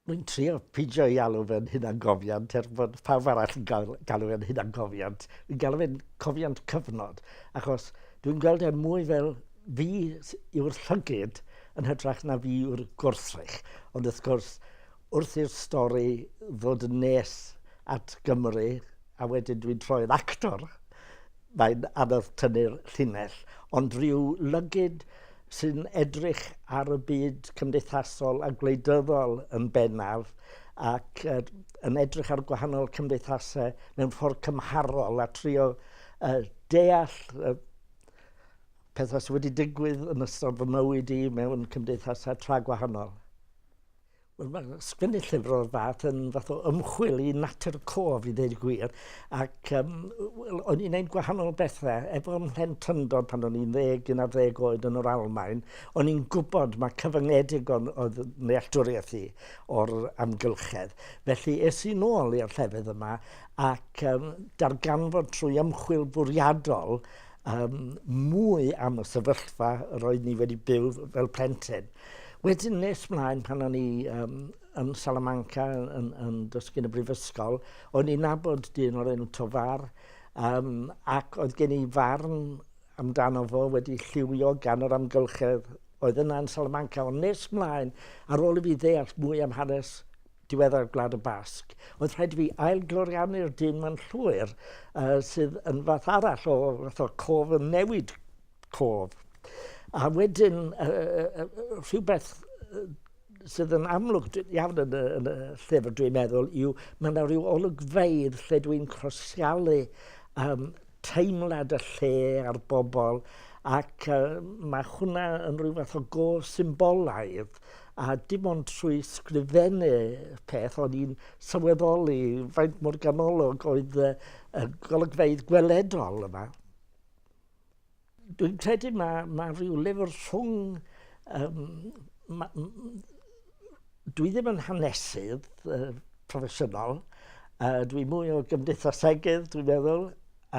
Rwy'n trio peidio ei alw fe'n hunangofiant er bod pawb arall yn gael, galw fe'n hunangofiant. Rwy'n galw fe'n cofiant cyfnod, achos dwi'n gweld e mwy fel fi yw'r llygyd yn hytrach na fi yw'r gwrthrych. Ond wrth gwrs, wrth i'r stori ddod yn nes at Gymru, a wedyn dwi'n troi'r actor, mae'n anodd tynnu'r llinell. Ond rhyw lygyd sy'n edrych ar y byd cymdeithasol a gwleidyddol yn bennaf ac uh, yn edrych ar gwahanol cymdeithasau mewn ffordd cymharol a trio uh, deall uh, pethau sydd wedi digwydd yn ystod fy mywyd i mewn cymdeithasau tra gwahanol. Wel, mae sgwennu llyfr o'r fath yn fath o ymchwil i natur y cof, i ddeud y gwir. Ac um, well, o'n i'n ein gwahanol bethau. Efo mhen tyndod pan o'n i'n ddeg, un ar ddeg oed yn yr Almain, o'n i'n gwybod mae cyfyngedig o'n oedd nealltwriaeth i o'r amgylchedd. Felly es i'n ôl i'r llefydd yma ac um, darganfod trwy ymchwil bwriadol um, mwy am y sefyllfa roedd ni wedi byw fel plentyn. Wedyn nes mlaen pan o'n i um, yn Salamanca yn, yn, yn dysgu yn y brifysgol, o'n i'n nabod dyn o'r enw Tofar, um, ac oedd gen i farn amdano fo wedi lliwio gan yr amgylchedd oedd yna yn Salamanca, ond nes mlaen, ar ôl i fi ddeall mwy am hanes diweddar Gwlad y Basg, oedd rhaid i fi ailgloriannu'r dyn ma'n llwyr uh, sydd yn fath arall o fath o cof yn newid cof. A wedyn, rhywbeth sydd yn amlwg iawn yn y, yn y llyfr, dwi'n meddwl, yw mae yna rhyw olygfeidd lle dwi'n crosialu um, teimlad y lle a'r bobl, ac uh, mae hwnna yn rhyw fath o go symbolaidd a dim ond trwy sgrifennu peth o'n i'n sylweddoli faint mor ganolog oedd y, y golygfeidd gweledol yma. Dwi'n credu mae, mae rhyw lyfr rhwng... Um, ma, dwi ddim yn hanesydd uh, proffesiynol, uh, dwi mwy o gymdeithasegydd, dwi'n meddwl,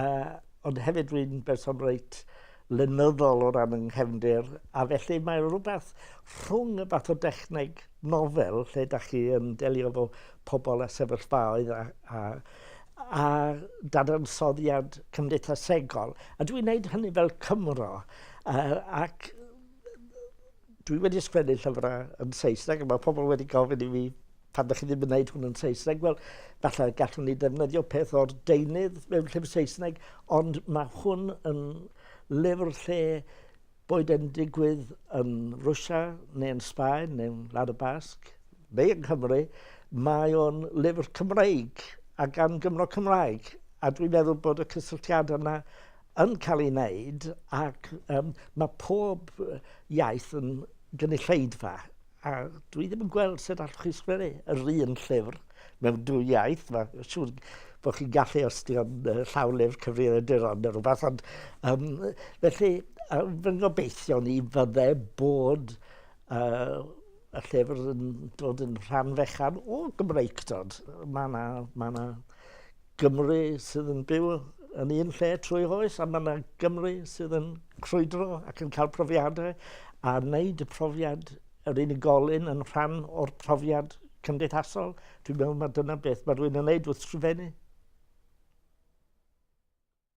uh, ond hefyd dwi'n berson reit lenyddol o ran yng nghefndir, a felly mae rhywbeth rhwng y fath o dechneg nofel lle da chi yn delio efo pobl a sefyllfaoedd a, a, a dadansoddiad cymdeithasegol. A dwi'n gwneud hynny fel Cymro. A, ac dwi wedi sgwennu llyfrau yn Saesneg, a mae pobl wedi gofyn i mi pan ydych chi ddim yn gwneud hwn yn Saesneg, wel, falle gallwn ni ddefnyddio peth o'r deunydd mewn llyfr Saesneg, ond mae hwn yn lyfr lle boed e'n digwydd yn Rwsia neu yn Sbaen neu yn Lad y Basg, neu yng Nghymru, mae o'n lyfr Cymreig a gan Gymro Cymraeg. A dwi'n meddwl bod y cysylltiadau yna yn cael ei wneud ac um, mae pob iaith yn gynulleidfa A dwi ddim yn gweld sut allwch chi sgwennu yr un llyfr mewn dwy iaith. Mae'n siŵr bod chi'n gallu os di o'n llawlyfr cyfrifiaduron neu rhywbeth. Ond, um, felly, um, fy ngobeithio ni fydde bod uh, y llyfr yn dod yn rhan fechan o Gymreigdod. Mae yna ma Gymru sydd yn byw yn un lle trwy oes, a mae yna Gymru sydd yn crwydro ac yn cael profiadau a wneud y profiad yr unigolyn yn rhan o'r profiad cymdeithasol. Dwi'n meddwl mae dyna beth mae rwy'n yn wneud wrth sgrifennu.